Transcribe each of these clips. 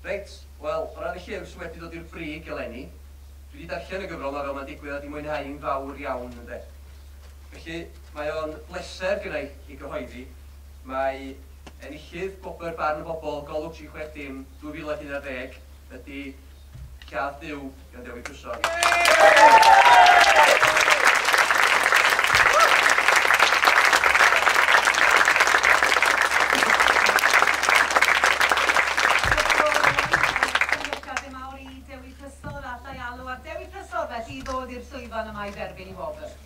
Reit, wel, o ran y llyfr sydd wedi dod i'r brig eleni, dwi 'di darllen y gyfrol 'ma fel mae'n digwydd a 'di mwynhau hi'n fawr iawn, ynde. Felly, mae o'n bleser gynna' i ei gyhoeddi. Mae enillydd Gwobr Barn y Bobl, Golwg 36 dim, 2011, ydi Lladd Duw. gan Dewi Cusog. Dewi Cusog, felly i ddod i'r llwyfan yma i dderbyn i wobr.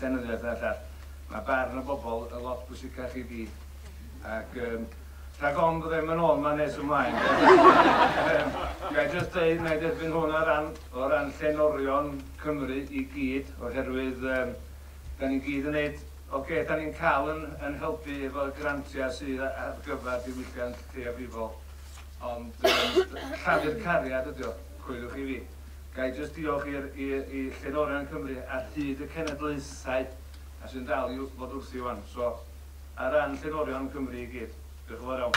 llenyddiaeth a bellach, mae barn y bobl yn lot bwysicach i fi. Ac um, rhag ofn bod e'n mynd ôl ma nes ymlaen. Gai jyst dweud, na i derbyn hwn o ran, o ran llenorion Cymru i gyd, oherwydd um, da ni'n gyd yn neud Oce, okay, da ni'n cael yn, yn helpu efo grantiau sydd ar gyfer diwylliant lleiafrifol, ond um, llafur cariad ydy o, coeliwch i fi. Ga i jyst diolch i'r i i Llenorion Cymru ar hyd y cenedlaethau a sy'n dal i fod wrthi ŵan. So, ar ran Llenorion Cymru i gyd, diolch yn fawr iawn.